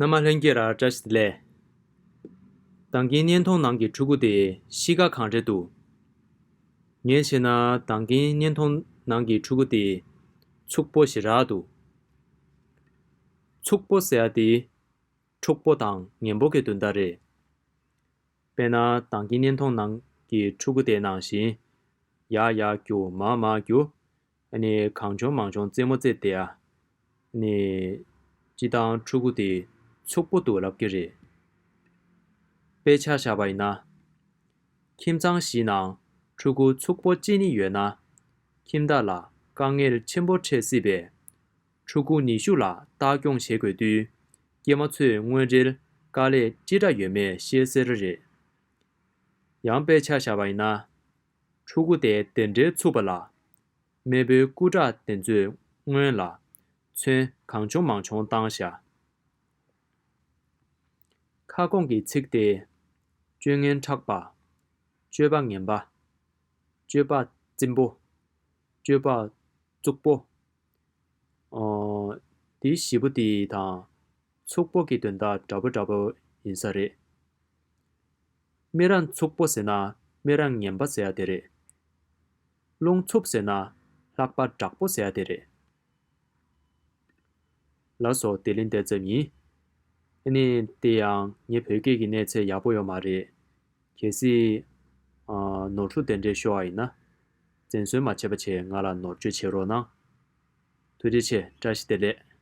སྣ་མ་ལྷན་སྐྱེས་ར་བཀྲ་ཤིས་ལས། དང་གིན་གཉན་མཐོང་ནང་གི་ཕྲུ་གུ་དེ་གཤིས་ཀ་གང་རེད་འདུག། ངས་ཤེས་ན་དང་གིན་གཉན་མཐོང་ནང་གི་ཕྲུ་གུ་དེ་ཕྱུག་པོ་ཞིག་རག་འདུག། ཕྱུག་པོ་ཟེར་ཡ་དེ་ཕྲུག་པོ་དང་ངན་པོ་གི་དོན་དག་རེད། དཔེར་ན་དང་གིན་གཉན་མཐོང་ནང་གི་ཕྲུ་གུ་དེ་ནང་བཞིན་ཡག་ཡག་རྒྱུ་མ་མ་རྒྱུ། ནི། གང་བྱུང་མང་བྱུང་རྩེད་མོ་རྩེ་སྟེ། ནི། སྤྱི་བཏང་ཕྲུ་གུ་དེ། ཕྱུག་པོ་དུ་ལབ་ཀྱི་རེད། དཔེ་ཆ་བཞག་པ་ཡིན་ན། ཁྱིམ་ཚང་བཞི་ནང་ཕྲུ་གུ་ཕྱུག་པོ་གཅིག་ནི་ཡོད་ན། ཁྱིམ་བདག་ལ་དཀའ་ངལ་ཆེན་པོ་འཕྲད་སྲིད་པས། ཕྲུ་གུ་ནི་ཤུགས་ལ་བལྟ་སྐྱོང་བྱེད་དགོས་དུས། སྐྱེས་མ་ཚོས་དངོས་རེལ་དཀའ་ལས་ཅི་འདྲ་ཡོད་མེད་ཤེས་གསལ་རེད། ཡང་དཔེ་ཆ་བཞག་པ་ཡིན་ན། ཕྲུ་གུ་དེ་དེ་འདྲའི་ཚུགས་པ་ལ། མེས་པོའི་སྐུ་དྲག་དེ་ཚོས་སྔོན་ལ། མཚོན་གང་བྱུང་མང་བྱུང་བཏང་ཤག། ཁ་སྐོང་གི་ཚིག་དེས། སྤྱོད་ངན་ཕྲག་པ། སྤྱོད་པ་ངན་པ། སྤྱོད་པ་རྩིང་པོ། སྤྱོད་པ་རྩུག་པོ། འདི་བཞི་པོ་དེ་དང། ཚུགས་པོ་གི་དོན་དག་འདྲ་པོ་འདྲ་པོ་ཡིན་ས་རེད། སྨན་ར་འཚུབ་པོ་ཟེར་ན་སྨན་ར་ངན་པ་ཟེར་ཡ་དེ་རེད། རླུང་འཚུབ་ཟེར་ན་ལྷག་པ་དྲག་པོ་ཟེར་ཡ་དེ་རེད། ལ་སོགས་བདེ་ལེ་འདེ་རྩབ་ཡིན། ཨ་ནི་དེ་ཡང་ངའི་བོད་སྐད་ཀྱི་གནས་ཚད་ཡག་པོ་ཡོད་མ་རེད། གལ་སྲིད། ནོར་འཁྲུལ་དེ་འདྲས་ཤོར་བ་ཡིན་ན། བཙན་གསོལ་མ་བྱས་པ་ཆེད་ང་ལ་ནོར་བཅོས་བྱེད་རོགས་གནང། ཐུགས་རྗེ་ཆེ་བཀྲ་ཤིས་བདེ་ལེགས།